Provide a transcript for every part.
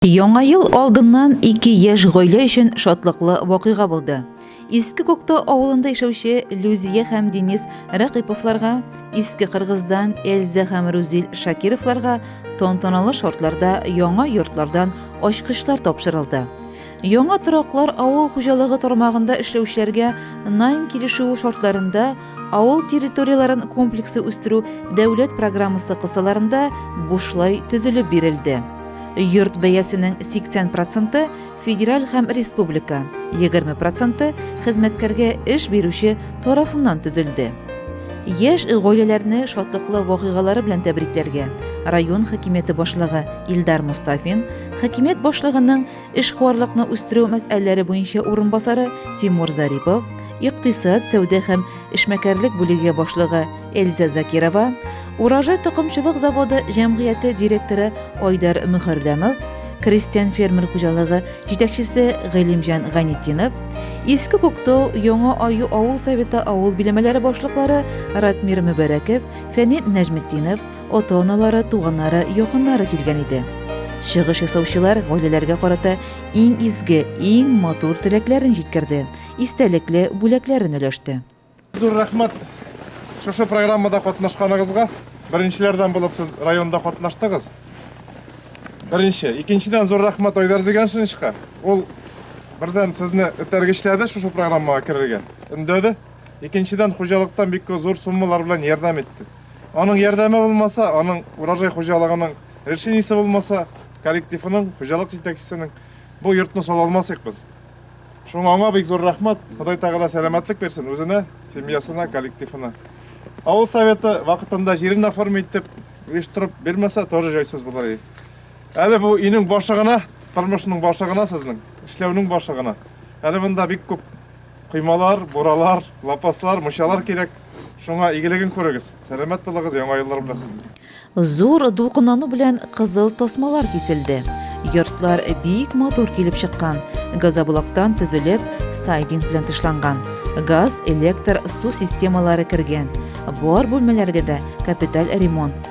Яңа ел алдыннан ике яшь гаилә өчен шатлыклы вакыйга булды. Иске Кокто авылында яшәүче Люзия һәм Денис Ракыповларга, Иске Кыргыздан Эльза һәм Рузил Шакировларга тантаналы шартларда яңа йортлардан ачкычлар тапшырылды. Яңа тораклар авыл хуҗалыгы тармагында эшләүчеләргә найм килешүе шартларында Авыл территорияләрен комплексы үстерү дәүләт программасы кысаларында бушлай төзелеп бирелде. Йорт бәясенең 80 проценты федераль һәм республика, 20 проценты хезмәткәргә эш бирүче тарафыннан төзелде. Яшь гаиләләрне шатлыклы вакыйгалары белән тәбрикләргә район хакимияте башлыгы Илдар Мостафин, хакимият башлыгының эшкуарлыкны үстерү мәсьәләләре буенча урынбасары Тимур Зарипов, икътисад, сәүдә һәм эшмәкәрлек бүлеге башлыгы Эльза Закирова, Урожай токымчылык заводы җәмгыяте директоры Айдар Мөхәрләмов, крестьян-фермер хуҗалыгы җитәкчесе Гыйлемҗан Гайнетдинов, Иске Күктау, Яңа Аю авыл советы авыл биләмәләре башлыклары Ратмир Мөбәрәков, Фәнил Нәҗметдинов, Ата-аналары, туганнары, якыннары килгән иде. Чыгыш ясаучылар гаиләләргә карата иң изге, иң матур теләкләрен җиткерде, истәлекле бүләкләрен өләште. Зур рәхмәт шушы программада катнашканыгызга. Беренчеләрдән булып сез районда катнаштыгыз. Беренче. Икенчедән зур рәхмәт Айдар Зиганшиничка. Ул бердән сезне этәргечләде шушы программага керергә, өндәде. Икенчедән, хуҗалыктан бик зур суммалар белән ярдәм итте. Аның ярдәме булмаса, аның урожай хуҗалыгының решениесе булмаса, коллективының, хуҗалык җитәкчесенең бу йортны сала алмасык без. Шуңа аңа бик зур рәхмәт. Ходай Тәгалә сәламәтлек бирсен үзенә, семьясына, коллективына. Авыл советы вакытында җирен оформи итеп, оештырып бирмәсә, тоже җайсыз булыр иде. Әле бу өйнең башы гына, тормышның башы гына сезнең, эшләүнең башы гына. Әле монда бик күп Коймалар, буралар, лапаслар, мочалар кирәк. Шуңа игелеген күрегез. Сәламәт булыгыз, яңа еллар белән сезне. Зур дулкынлану белән кызыл тасмалар киселде. Йортлар бик матур килеп чыккан. Газоблоктан төзелеп, сайдинг белән тышланган. Газ, электр, су системалары кергән. Бар бүлмәләргә дә капиталь ремонт.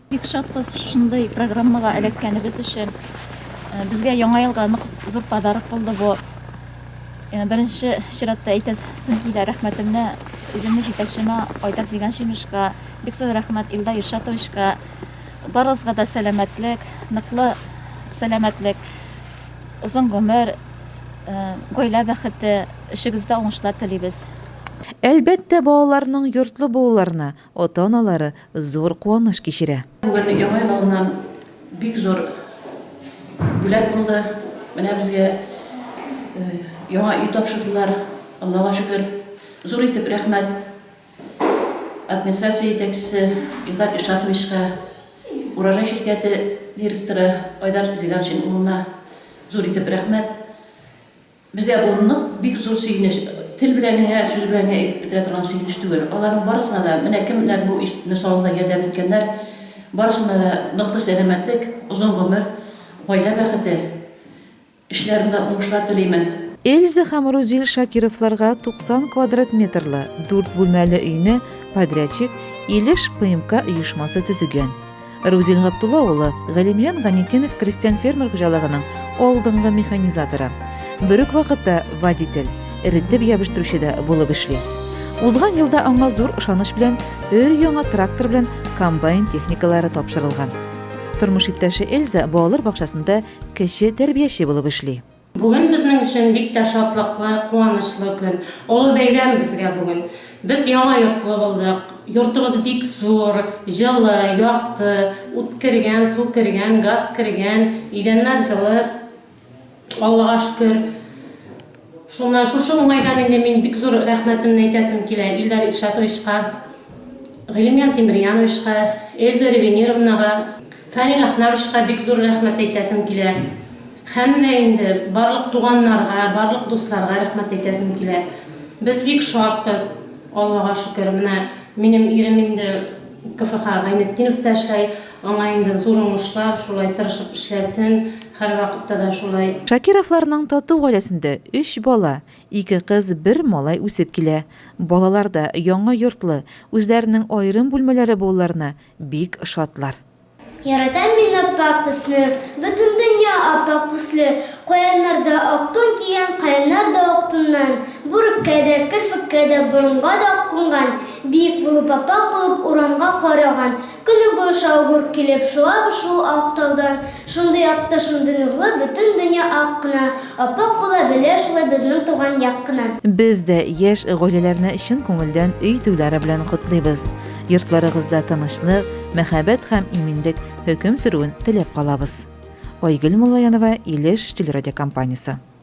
Бик шатбыз шундый программага эләккәнебез өчен. Безгә Яңа елга нык зур подарок булды бу. Беренче чиратта әйтәсем килә рәхмәтемне үземнең җитәкчемә Айдар Зиганшиновичка, бик зур рәхмәт Илдар Илшатовичка. Барыгызга да сәламәтлек, ныклы сәламәтлек, озын гомер, гаилә бәхете, эшегездә уңышлар телибез. Әлбәттә, балаларның йортлы булуларына, Ата-аналары зур куаныш кичерә. Бүген Яңа ел алдыннан бик зур бүләк булды. Менә безгә яңа өй тапшырдылар. Аллага шөкер. Зур итеп рәхмәт администрация җитәкчесе Илдар Илшатовичка, Урожай ширкәте директоры Айдар Зиланшин улына зур итеп рәхмәт. Безгә бу нык, бик зур сөенеч. Тел белән генә, сүз белән генә әйтеп бетерә торган сөенеч түгел. Аларның барысына да, менә кемнәр бу ишетүне салуда ярдәм иткәннәр, барысына да ныклы сәламәтлек, озын гомер, гаилә бәхете, эшләрендә уңышлар телимен. Эльза һәм Рузил Шакировларга 90 квадрат метрлы дүрт бүлмәле өйне подрядчик Илеш ПМК оешмасы төзегән. Рузил Габдулла улы Галимҗан Ганитдинов крестьян-фермер хуҗалыгының алдынгы механизаторы. Бер үк вакытта водитель, эретеп ябыштыручы да булып эшли. Узган елда аңа зур ышаныч белән өр-яңа трактор белән комбайн техникалары тапшырылган. Тормыш иптәше Эльза балалар бакчасында кече тәрбияче булып эшли. Бүген безнең өчен бик тә шатлыклы, куанычлы көн. Олы бәйрәм безгә бүген. Без яңа йортлы булдык. Йортыбыз бик зур, җылы, якты, ут кергән, су кергән, газ кергән, идәннәр җылы, Аллага шөкер. Шуннан шушы уңайдан инде мин бик зур рәхмәтемне әйтәсем килә Илдар Илшатовичка, Гыйлемьян Тимерьяновичка, Эльза Ревенировнага. Фәнил Әхнәмовичка бик зур рәхмәт әйтәсем килә. Һәм дә инде барлык туганнарга, барлык дусларга рәхмәт әйтәсем килә. Без бик шатбыз, Аллага шөкер. Менә минем ирем инде КФХ Гайнетдиновта эшләй. Аңа инде зур уңышлар, шулай тырышып эшләсен, һәрвакытта да шулай. Шакировларның тату гаиләсендә өч бала, ике кыз, бер малай үсеп килә. Балалар да яңа йортлы, үзләренең аерым бүлмәләре булуларына Бик шатлар. Яратам мин аппак төсне. Бөтен дөнья аппак төсле. Каяннар да ак тун кигән, Каяннар да ак туннан. Бүреккә дә, керфеккә дә, Борынга да ак кунган. Биек булып, аппак булып, Урамга кар яуган. Көне буе шау-гөр килеп, Шуабыз шул ак таудан. Шундый якты, шундый нурлы, Бөтен дөнья ак кына. Аппак була белә шулай Безнең туган як кына. Без дә яшь гаиләләрне чын күңелдән өй туйлары белән котлыйбыз. Йортларыгызда тынычлык, мәхәббәт һәм иминлек хөкем сөрүен теләп калабыз. Айгөл Муллаянова, Илеш телерадиокомпаниясе.